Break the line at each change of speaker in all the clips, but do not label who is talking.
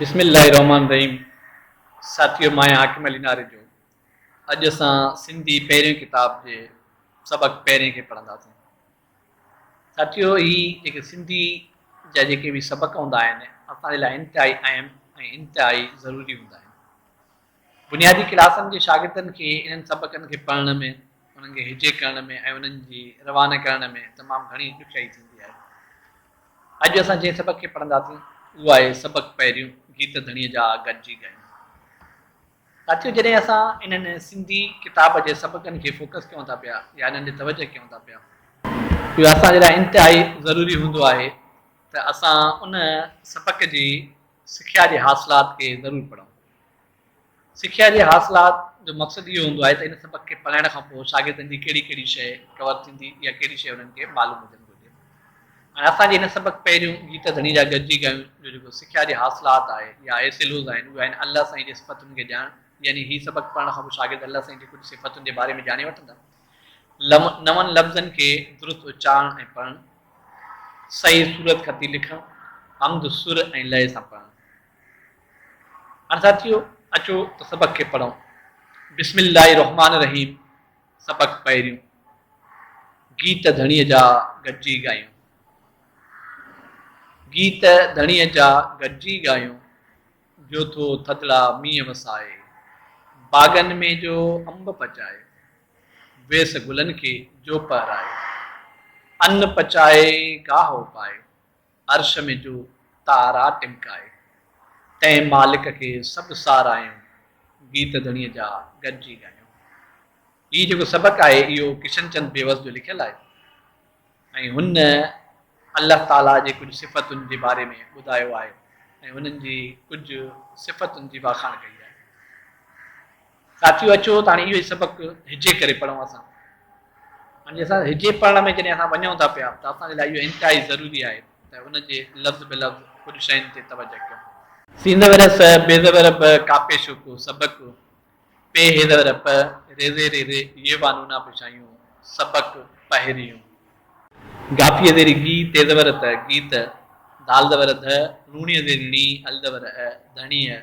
بسم الله الرحمن الرحيم ساٿيو مان آهيان حاڪم علي ناريجو اڄ اسان سنڌي پهرين ڪتاب جي سبق پهرين کي پڙهنداسين ساٿيو هي جيڪي سنڌي جا جيڪي به سبق هوندا آهن اسان جي لاء انتهائي اهم ۽ انتهائي ضروري هوندا آهن بنيادي ڪلاسن جي شاگردن کي انهن سبقن کي پڙهڻ ۾، انهن کي هجي ڪرڻ ۾ ۽ انهن جي روانه ڪرڻ ۾ تمام گهڻي ڏکيائي ٿيندي آهي. اڄ اسان جنهن سبق کي پڙهنداسين، اهو آهي سبق پهريون، گيت ڌڻيء جا آء گڏجي ڳايون. ساٿيو! جڏهن اسان انهن سنڌي ڪتاب جي سبقن کي فوڪس ڪيون ٿا پيا يا انهن ڏي توجهه ڪيون ٿا پيا، اهو اسان جي لاء انتهائي ضروري هوندو آهي ته اسان ان سبق جي سکيا جي حاصلات کي ضرور پڙهون. سکيا جي حاصلات جو مقصد اهو هوندو آهي ته ان سبق کي پڙهائڻ کان پوء شاگردن جي ڪهڙي ڪهڙي شيء ڪور ٿيندي يا ڪهڙي شيء انهن کي معلوم هجڻ گهرجي. هاڻي اسان جي هن سبق پهريون گيت ڌڻي جا گڏجي ڳايون جو جيڪو سکيا جي حاصلات آهي يا اهي سلوز آهن اهي آهن الله سائين جي صفتن کي ڄاڻڻ يعني هي سبق پڙهڻ کان پوء شاگرد الله سائين جي ڪجهه صفتن جي باري ۾ ڄاڻي وٺندا لم نون لفظن کي درست اچارڻ ۽ پڙهڻ صحيح صورت خطي لکڻ حمد سر ۽ لئه سان پڙهڻ. عرض ٿيو، اچو ته سبق کي پڙهون. بسم الله الرحمٰن الرحيم سبق پهريون. گيت ڌڻيء جا گڏجي ڳايون. گيت ڌڻيء جا گڏجي ڳايون. جو ٿو ٿڌڙا مينهن وسائي. باغن ۾ جو انب پچائي. ويس گلن کي جو پهرائي. ان پچائي گاهه اپائي. عرش ۾ جو تارا ٽمڪائي. تنهن مالڪ کي سڀ ساراهيون گيت ڌڻي جا گڏجي ڳايون. هي جيڪو سبق آهي اهو ڪشن چند بيوس جو لکيل آهي ۽ هن الله تعاليٰ جي ڪجهه صفتن جي باري ۾ ٻڌايو آهي ۽ انهن جي ڪجهه صفتن جي واکاڻ ڪئي آهي. ساٿيو اچو ته هاڻي اهو ئي سبق هجي ڪري پڙهون اسان. هاڻي اسان هجي پڙهڻ ۾ جڏهن اسان وڃون ٿا پيا ته اسان جي لاء اهو انتهائي ضروري آهي ته ان جي لفظ به لفظ ڪجهه شين تي توجه ڪيون. سينده ور س، بي زبر ب، ڪاپي شو ڪو، سبق، پي هي زبر پ، ري زير ري ري، يي وا نونا پشايون، سبق، پهريون. گافيء زيري گي، تي زبر ت، گيت، دال زبر ڌ، روڻيء زيري ڻي، ال زبر ا، ڌڻيء.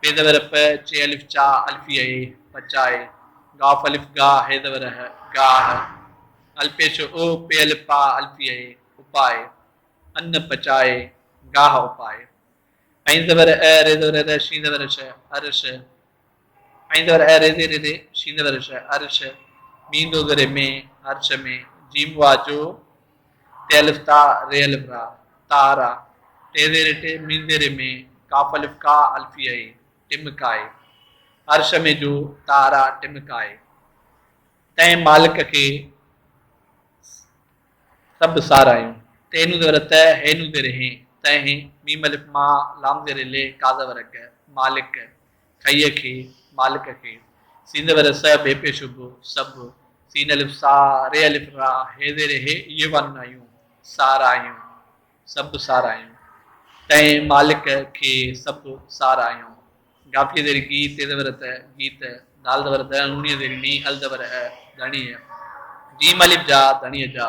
پي زبر پ، چي الف چا، الفي اي، پچائي، ڳاف الف ڳا، هي زبر ه، ڳاهه، الپيش او، پي الف پا، الفي اي، اپائي، ان، پچائي، ڳاهه اپائي، عين زبر ع، ري زبر ر، شين زبر ش، عرش، عين زبر ا، ري زي ري ري، شين زبر ش، عرش، ميم دو زير مين، عرش مين، جيم واء جو، ٽي الف تاء ري الف را تاء را ٽي زيري ٽي مين زيري مين قاف الف قا الفي اي ٽم ڪائي هر ش مين جو تاء را ٽم ڪائي تنهن مالڪ کي سڀ سارايون تي نون زير ته هي نون زير هين تنهن ميم الف ما لام زير لي قا زبر ڪ مالڪ کئيء کي، مالڪ کي. سين ور س بي پي شب، سڀ. سين الف سا، ري الف را، هي زير هي اهي وانون آيون، ساراهيون. سڀ ساراهيون. تنهن، مالڪ، کي، سڀ، ساراهيون. گافيء زير گي، تي زبر ت، گيت. دال زبر د، ڻوڻيء زير ني، ال زبر ء، ڌڻيء. جيم الف جا، ڌڻيء جا.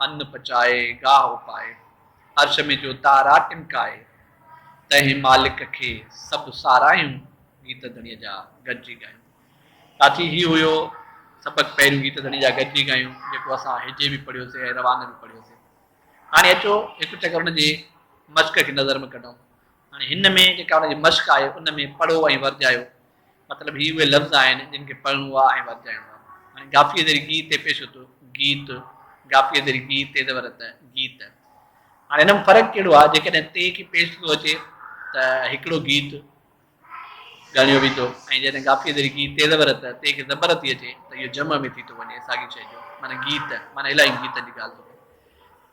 ان پچائي گاهه اپائي، عرش ۾ جو تارا ٽمڪائي، تنهن مالڪ کي سڀ سارايون گيت ڌڻيء جا گڏجي ڳايون. ساٿي هي هيو سبق پهريون گيت ڌڻيء جا گڏجي ڳايون جيڪو اسان هجي به پڙهيوسي ۽ روانه به پڙهيوسي. هاڻي اچو هڪ چڪر ان جي مشق کي نظر ۾ ڪڍون. هاڻي هن ۾ جيڪا ان جي مشق آهي ان ۾ پڙهو ۽ ورجايو. مطلب هي اهي لفظ آهن جن کي پڙهڻو آهي ۽ ورجائڻو آهي. هاڻي گافيء ذري گي تي پيش اتو، گيت، گافيء ذري گي تي زبر ات، گيت. هاڻي هن ۾ فرق ڪهڙو آهي؟ جيڪڏهن تي کي پيش ٿو اچي ته هڪڙو گيت ڳڻيو ويندو ۽ جڏهن گافيء ذري گي تي زبر ات، تي کي زبر ٿي اچي ته اهو جمع ۾ ٿي ٿو وڃي ساڳي شيء جو معنيٰ گيت، معنيٰ الاهين گيتن جي ڳالهه ٿو ڪري.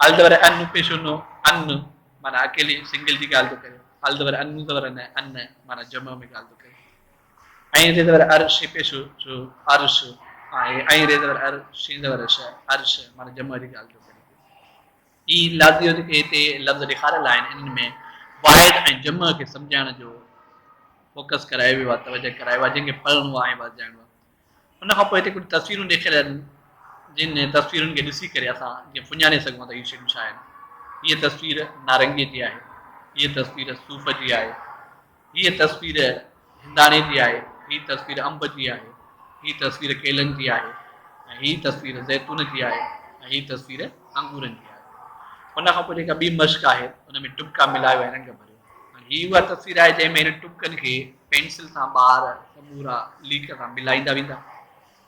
ال زبر ان پيش انو ان معنيٰ اڪيلي سنگل جي ڳالهه ٿو ڪري ال زبر ان زبر نه ان معنيٰ جمع ۾ ڳالهه ٿو ڪري ۽ ري زبر ار شي پيش شو ارش ۽ ري زبر ار شين زبر ش ارش معنيٰ جمع جي ڳالهه ٿو ڪري هي لازيو جيڪي هتي لفظ ڏيکاريل آهن انهن ۾ واحد ۽ جمع کي سمجهائڻ جو فوڪس ڪرايو ويو آهي توجه ڪرايو آهي جنهن کي پڙهڻو آهي ۽ وضجائڻو آهي ان کان پوء هتي ڪجهه تصويرون ڏيکاريل آهن، جن تصويرن کي ڏسي ڪري اسان جيئن سڃاڻي سگهون ٿا ته هي شيون ڇا آهن. هيء تصوير نارنگيء جي آهي، هيء تصوير صوف جي آهي، هيء تصوير هنداڻي جي آهي، هيء تصوير انب جي آهي، هيء تصوير ڪيلن جي آهي ۽ هيء تصوير زيتون جي آهي ۽ هيء تصوير انگورن جي آهي. ان کان پوء جيڪا ٻي مشق آهي، ان ۾ ٽٻڪا ملائيو ۽ رنگ ڀريو. هي اها تصوير آهي جنهن ۾ هنن ٽٻڪن کي پينسل سان ٻار سمورا ليڪ سان ملائيندا ويندا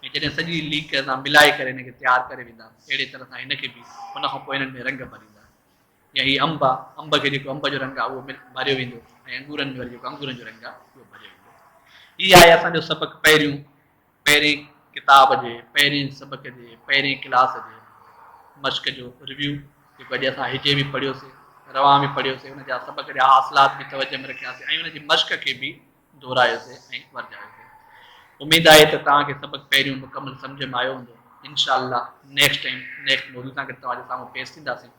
۽ جڏهن سڄي ليڪ سان ملائي ڪري هن کي تيار ڪري ويندا اهڙي طرح سان هن کي به ان کان پوء هنن ۾ رنگ ڀريندا يا هي انب آ انب کي جيڪو انب جو رنگ آ اهو ڀريو ويندو ۽ انگورن ۾ وري جيڪو انگورن جو رنگ آ اهو ڀريو ويندو هي آهي اسان جو سبق پهريون پهرين ڪتاب جي پهرين سبق جي پهرين ڪلاس جي مشق جو ريويو جيڪو اڄ اسان هجي به پڙهيوسي روان به پڙهيوسي ان جا سبق جا حاصلات به توجه ۾ رکياسي ۽ ان جي مشق کي به دهرايوسي ۽ ورجايوسي اميد آهي ته توهان کي سبق پهريون مڪمل سمجھ ۾ آيو هوندو انشاء الله نيڪسٽ ٽائيم نيڪسٽ موضوع سان گڏ توهان جي سامهون پيش ٿينداسين